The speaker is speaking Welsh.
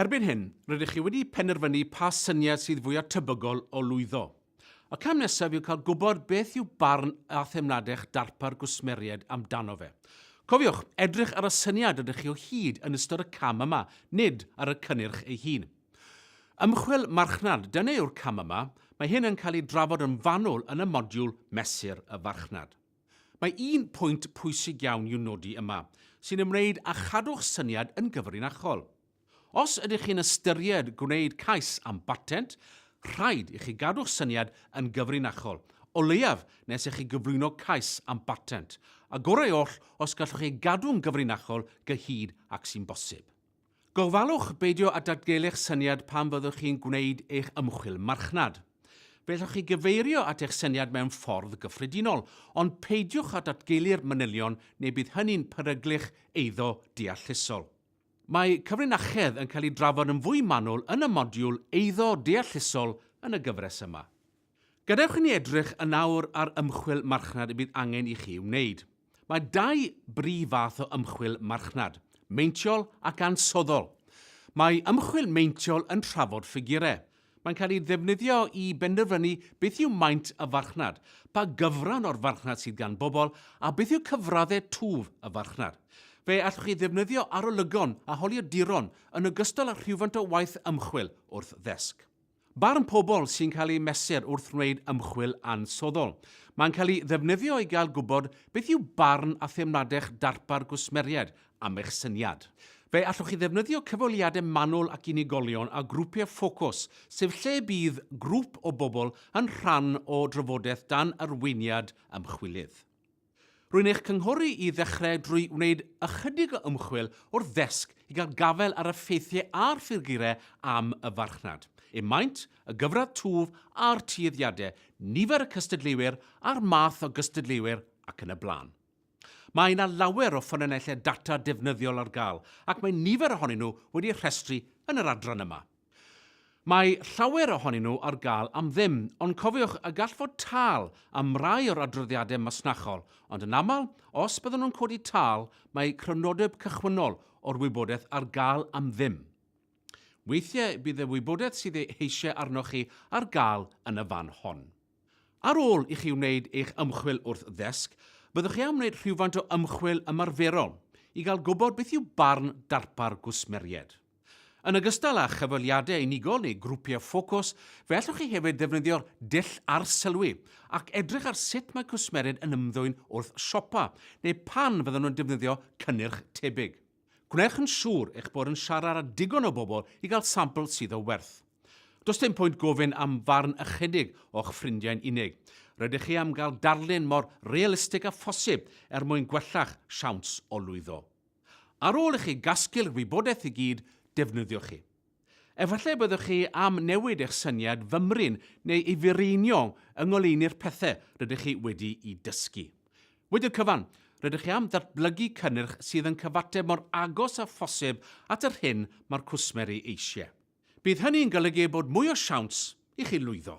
Erbyn hyn, rydych chi wedi penderfynu pa syniad sydd fwyaf tebygol o lwyddo. Y cam nesaf yw cael gwybod beth yw barn a theimlad'ch darpar gwsmeriaid amdano fe. Cofiwch, edrych ar y syniad rydych chi o hyd yn ystod y cam yma, nid ar y cynnyrch ei hun. Ymchwil marchnad, dyna yw'r cam yma, mae hyn yn cael ei drafod yn fanwl yn y modiwl Mesur y Farchnad. Mae un pwynt pwysig iawn i'w nodi yma, sy'n ymwneud â chadw'ch syniad yn gyfrinachol. Os ydych chi'n ystyried gwneud cais am batent, rhaid i chi gadw'ch syniad yn gyfrinachol, o leiaf nes i chi gyflwyno cais am batent, a gorau oll os gallwch ei gadw'n gyfrinachol gyhyd ag sy'n bosib. Gofalwch beidio â datgelu'ch syniad pan fyddwch chi'n gwneud eich ymchwil marchnad. Fe allwch chi gyfeirio at eich syniad mewn ffordd gyffredinol, ond peidiwch â datgelu'r manylion neu bydd hynny'n peryglu'ch eiddo deallusol. Mae cyfrinachedd yn cael ei drafod yn fwy manwl yn y modiwl Eiddo Deallusol yn y gyfres yma. Gadewch i ni edrych yn awr ar ymchwil marchnad y bydd angen i chi wneud. Mae dau brif fath o ymchwil marchnad, meintiol ac ansoddol. Mae ymchwil meintiol yn trafod ffigurau. Mae'n cael ei ddefnyddio i benderfynu beth yw maint y farchnad, pa gyfran o'r farchnad sydd gan bobl a beth yw cyfraddau twf y farchnad. Fe allwch chi ddefnyddio arolygon a holiaduron yn ogystal â rhywfaint o waith ymchwil wrth ddesg. Barn pobl sy'n cael eu mesur wrth wneud ymchwil ansoddol. Mae'n cael ei ddefnyddio i gael gwybod beth yw barn a theimlad'ch darpar gwsmeriaid am eich syniad. Fe allwch chi ddefnyddio cyfweliadau manwl ac unigolion a grwpiau ffocws, sef lle y bydd grŵp o bobl yn rhan o drafodaeth dan arweiniad ymchwilydd. Rwy'n eich cynghori i ddechrau drwy wneud ychydig o ymchwil wrth ddesg i gael gafael ar y ffeithiau a'r ffurgurau am y farchnad, eu maint, y gyfradd twf a'r tueddiadau, nifer y cystadleuwyr a'r math o gystadleuwyr ac yn y blaen. Mae yna lawer o ffynonellau data defnyddiol ar gael ac mae nifer ohonyn nhw wedi eu rhestru yn yr adran yma. Mae llawer ohonyn nhw ar gael am ddim, ond cofiwch y gall fod tâl am rai o'r adroddiadau masnachol, ond yn aml, os byddwn nhw'n codi tâl, mae crynodeb cychwynnol o'r wybodaeth ar gael am ddim. Weithiau bydd y wybodaeth sydd ei heisiau arnoch chi ar gael yn y fan hon. Ar ôl i chi wneud eich ymchwil wrth ddesg, byddwch chi am wneud rhywfaint o ymchwil ymarferol i gael gwybod beth yw barn darpar gwsmeriaid. Yn ogystal â chyfweliadau unigol neu grwpiau ffocws, fe allwch chi hefyd ddefnyddio'r dull arsylwi ac edrych ar sut mae cwsmeriaid yn ymddwyn wrth siopa neu pan fyddan nhw'n defnyddio cynnyrch tebyg. Gwnewch yn siŵr eich bod yn siarad â digon o bobl i gael sampl sydd o werth. Does dim pwynt gofyn am farn ychydig o'ch ffrindiau'n unig. Rydych chi am gael darlun mor realistig â phosib er mwyn gwella'ch siawns o lwyddo. Ar ôl i chi gasglu'r wybodaeth i gyd, defnyddiwch hi. Efallai y byddwch chi am newid eich syniad fymryn neu ei fireinio yng ngoleuni'r pethau rydych chi wedi'u dysgu. Wedi'r cyfan, rydych chi am ddatblygu cynnyrch sydd yn cyfateb mor agos â phosib at yr hyn mae'r cwsmer ei eisiau. Bydd hynny'n golygu bod mwy o siawns i chi lwyddo.